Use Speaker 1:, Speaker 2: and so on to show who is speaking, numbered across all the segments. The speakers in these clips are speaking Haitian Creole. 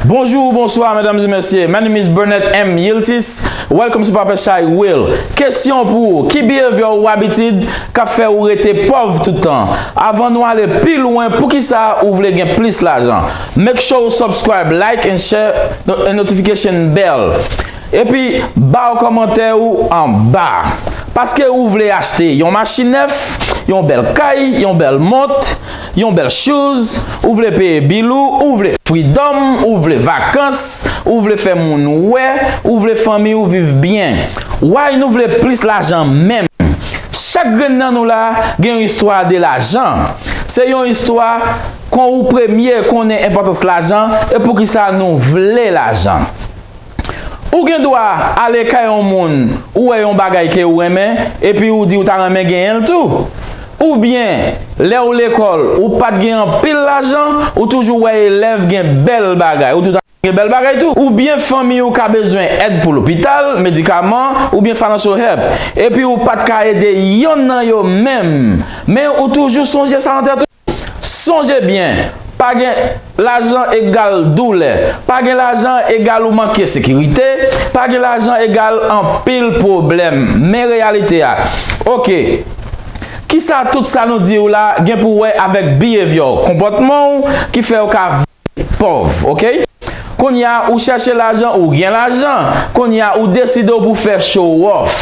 Speaker 1: Bonjour, bonsoir mesdames et messieurs. My name is Burnett M. Yiltis. Welcome to Papa Shy Will. Kesyon pou ou, ki behavior ou abitid ka fè ou rete pòv tout tan? Avan nou ale pi lwen, pou ki sa ou vle gen plis lajan? Make sure ou subscribe, like and share and notification bell. Epi baw kòmantè ou anba. Paske ou vle achte yon machin nèf, yon bèl kay, yon bèl mont, yon bèl shoes, ou vle peye bil ou, ou vle freedom, ou vle vakans, ou vle fè moun wè, ou vle fanmi ou viv byen. Why nou vle plis lajan menm? Chak grenn nan nou la gen yon istwa de lajan. Se yon istwa kon ou premye konnen enpòtans lajan e poukisa nou vle lajan. Ou gen dwa ale kay yon moun ou wè yon bagay ke ou renmen epi ou di ou ta renmen genyen l tou. Oubyen, lè ou lekòl, ou pa t gen anpil lajan, ou toujou wè elèv gen bèl bagay, ou tou ta renmen gen bèl bagay tou. Oubyen fanmi ou ka bezwen èd pou lopital, medikaman, oubyen financial help, epi ou pa t ka ede yonn nan yo menm, men ou toujou sonje sa nan tèt ou. Sonje byen, pa gen lajan egal doulè, pa gen lajan egal ou manke sekirite, pa gen lajan egal anpil pwoblèm. Men reyalite a. Ok. Kisa tout sa nou diw la gen pou wè avèk behavior, konpòtmanw ki fèw ka. Pòv ok Kounye a ou chèche lajan ou gen lajan Kounye a ou deside w pou fè chowòf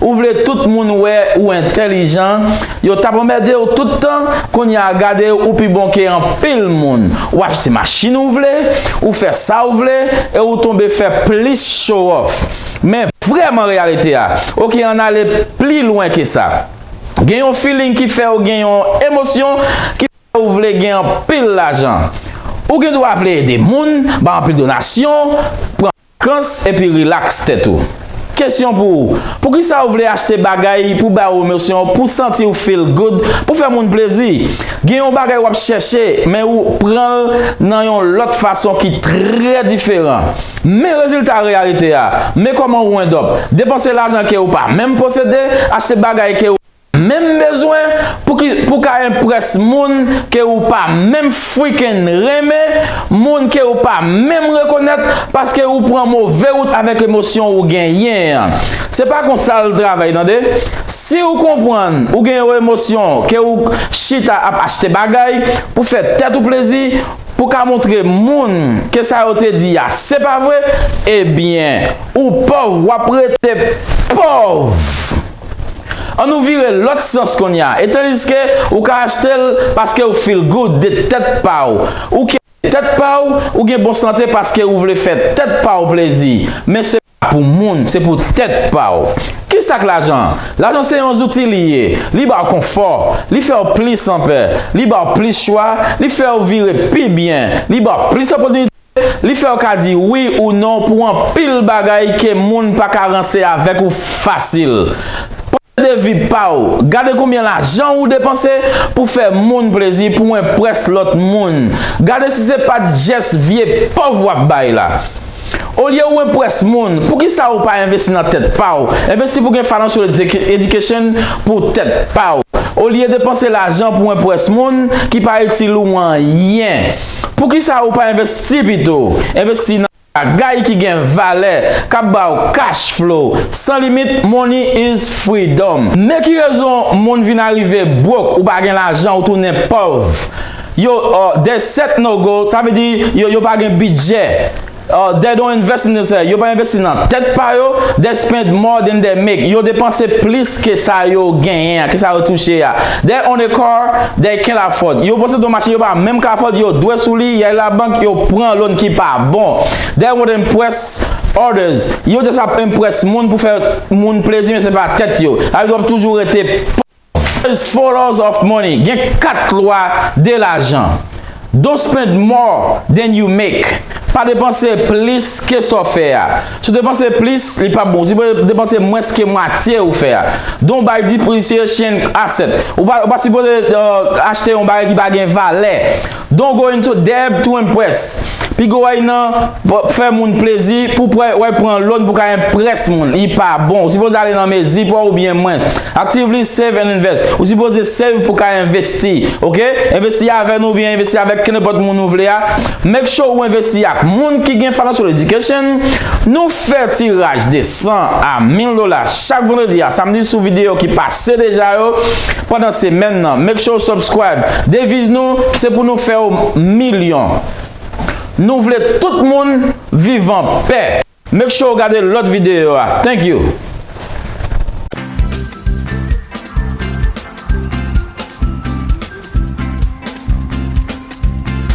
Speaker 1: Ou vle tout moun wè ou entèlijan Yo tap anmède w tout tan Kounye a gade ou pi bon ke anpil moun Ou achte machin ou vle Ou fè sa w vle E ou tonbe fè plis chowòf Men vrèman reyalite a Ok ann ale pli lwen ke sa Gen yon feeling ki fè w gen yon emosyon ki Ou vle gen anpil lajan. Ou gen dwa vle ede moun, bay anpil donasyon, pran vakans, epi rilaks tèt ou. Kesyon pou ou, Poukisa ou vle achte bagay pou bay ou emosyon, pou santi ou feel good, pou fè moun plezi? Gen yon bagay w ap chèche, men ou pran l nan yon lòt fason ki trè diferan. Men rezilta reyalite a, men kòman ou end up, depanse lajan ke ou pa menm posede, achte bagay ke ou. Menm bezwen pou ka enprès moun ke ou pa menm freaking renmen, moun ke ou pa menm rekonèt paske ou pran move wout avèk emosyon ou genyen an. Se pa konsa l travay tande. Si ou konprann ou gen yon emosyon ke ou k chita ap achte bagay pou fè tèt ou plezi, pou ka montre moun ke sa yo te di a se pa vre, ebyen ou pòv wap rete pòv! An nou vire lòt sans konnya e tandiske ou ka achte l paske ou feel good de tèt pa w ou ke tèt pa w ou gen bon sante paske ou vle fè tèt pa w plezi men se pa pou moun se pou tèt pa w ki sa k lajan lajan se yon zouti li ye li ba w konfò li fè w plis anpè li ba w plis chwa li fè w vire pi byen li ba w plis opòtinite Li fèw ka di wi ou non pou anpil bagay ke moun pa ka ranse avèk ou fasil. Panse de vi pa w, gade konbyen lajan ou depanse pou fè moun plezi pou enprès lòt moun, gade si se pat jès vye pòv wap bay la. Olye ou enprès moun, poukisa ou pa envesti nan tèt pa w, envesti pou gen financial education pou tèt pa w, olye depanse lajan pou enprès moun ki pa itil ou anyen. Poukisa ou pa envesti pito? Envesti nan bagay ki gen valè, k ap ba w cash flow san limit Money is freedom. Men ki rezon moun vin arive broke ou pa gen lajan ou tounen pòv yo there's set no goal sa vle di yo pa gen bidjè. They don't invest in this head, yo pa envesti nan tèt pa yo, they spend more than they make, yo depanse plis ke sa yo genyen an, ke sa yo touche a, they own a car they can't afford, yo posede yon machin yo pa menm ka afford, yo dwe sou li, y al la bank, yo pran loan ki pa bon, they won't impress others, yo just ap impress moun pou fè moun plezi men se pa tèt yo, sa vle di w ap toujou rete. First followers of money gen 4 lwa de lajan, Don't spend more than you make Pa depanse plis ke sa w fè a. Si w depanse plis, li pap bon. Si w depanse mwens ke mwatye ou fè a. Don't buy depreciation asset Ou pa sipoze achte yon bagay ki pa gen valè. Don going to Deb to impress Pi gwo way nan fè moun plezi pou pwè way pran loan pou ka impress moun li pa bon ou sipoze ale nan mezi pwè ou byen mwens Actively save and invest Ou sipoze save pou ka investi ok investi avè nou ou byen investi avèk kenepòt moun ou vle a make sure ou investi ak moun ki gen financial education Nou fè tiraj de 100 a 1000 dola chak vendredi a samedi sou video ki pa Se deja yo pandan se menn nan make sure ou subscribe deviz nou se pou nou fè ou milyon nou vle tout moun viv an pè. Make sure ou gade lòt videyo a thank you.